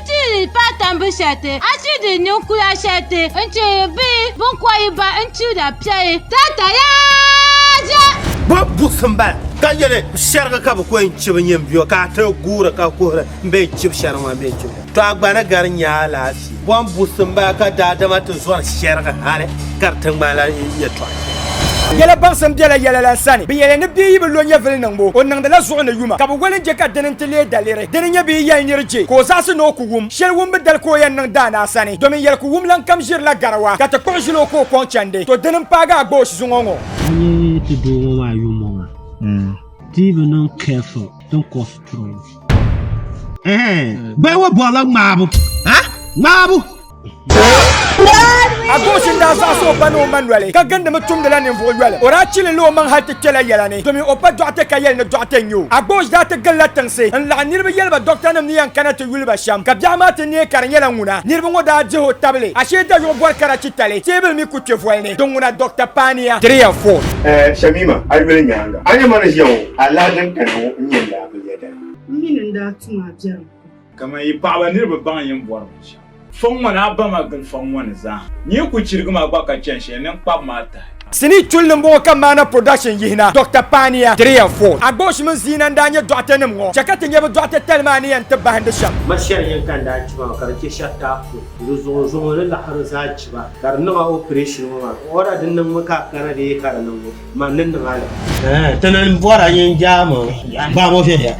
Nti paai tambu shɛli ti a ti di ninkura shɛli ti nti bihi bin kɔyi ba nti da piɛli tata yaa zɛ. Bɔ buɣisi m bala ka yɛli shɛrigi ka bi kɔyi nchibi nyini biɔ ka a ti guuri ka kuhiri m bɛ nchibi shɛrigi maa bɛ nchibi shɛrigi to a gba ni gari nya alaafee. Bɔ buɣisi m bala ka daadama ti zɔri shɛrigi hali gari tiŋgbani la yɛtɔɣa shɛli. Yɛla baŋsim bela yɛla la sani. Bɛ yɛli ni bia yi bi lo nyɛvili niŋbu, o niŋdila zuɣu ni yuma, ka bi wali n-je ka dini nti leei daliri. Di ni nyɛ bɛ yi yɛli nir je ka o zaɣisi ni o ku wum, shɛli wumbu dali ka o yɛn niŋ daanaa sani, domin yɛli ku wum lan kam ʒirila garawa, ka ti kpuɣi ʒil o ka o kɔŋ chandi. To dini m-paagi a gba o shizuŋɔ ŋɔ? N yi ti doo ŋɔ maa yummɔ maa, di bi niŋ careful din cause trouble. Ɛɛn, bɛ yi wa bɔrila ŋmaabu, ha? Ŋmaabu! a gosi n daa zaɣisi o ba ni o ma noli ka gindimi tumdila ninvuɣu yoli o daa chilila o maŋ hali ti kpela yɛla ni domin o pa dɔɣite ka yɛli ni dɔɣite n-nyɛ o a gosi daa ti gilila tiŋsi n-laɣim niriba yɛli ba dɔɣitanim ni yɛn kana ti yuli ba shɛm ka biɛɣu maa ti neei ka di nyɛla ŋuna niriba ŋɔ daa dihi o tabili ashee dayuɣu bɔri kara chitali teebuli mi ku kpe voli ni din ŋuna dɔɣita paania tiriya fon. Ɛɛh Shamima, a yuli nyaaŋa a ni ma ni ʒiya ŋɔ alaha din kani ŋɔ n-nyɛ n daa bi yɛda. M mi ni n daa tum a biɛrim. Kaman yi paɣaba ni di bi baŋ yin bɔri binshɛɣu. Fɔŋ ŋɔ ni a ba ma gili fɔŋ ŋɔ ni zaa. Nyee ku chirigi ma gba ka chani shɛli ni n kpab ma a tahi. Sinii chuli ni m-bɔŋɔ ka Mmaana Production yihi na, Doctor Paania, three and four. Agboosh mini Ziina n-daa nyɛ dɔɣitenim ŋɔ. Chɛ ka ti nya bɛ dɔɣite tali maa ni yɛn ti bahindi shɛm. Ma shɛli yini ka n daa chɛ ba maa ka di chɛ shɛri taapɔi. Di zuɣu zuɣu n ni laɣiri zaa chɛ ba ka di niŋ a operation ŋɔ maa. Order din niŋ mi ka a kana dee ka di niŋ mi. Man ni niŋ a la. Ti ni bɔri a yin jaami gbaam o viɛnyɛla.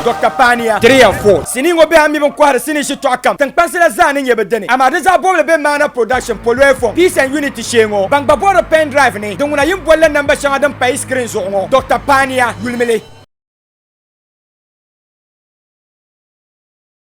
Dɔkta Paaniya, Tiriya Ford, sinii ŋɔ biɛha mi bini kɔhiri sinii shitɔɣu kam tiŋkpansi la zaa ni nyɛ bi dini, amaa di zaa bɔbili be Maana Production, Poloy Fong, Peace and Unity shee ŋɔ. Ban gba bɔhiri Pen Drive ni, di ŋuna yin boli la namba shɛŋa din pahi screen zuɣu ŋɔ. Dɔkta Paaniya, yulimi li.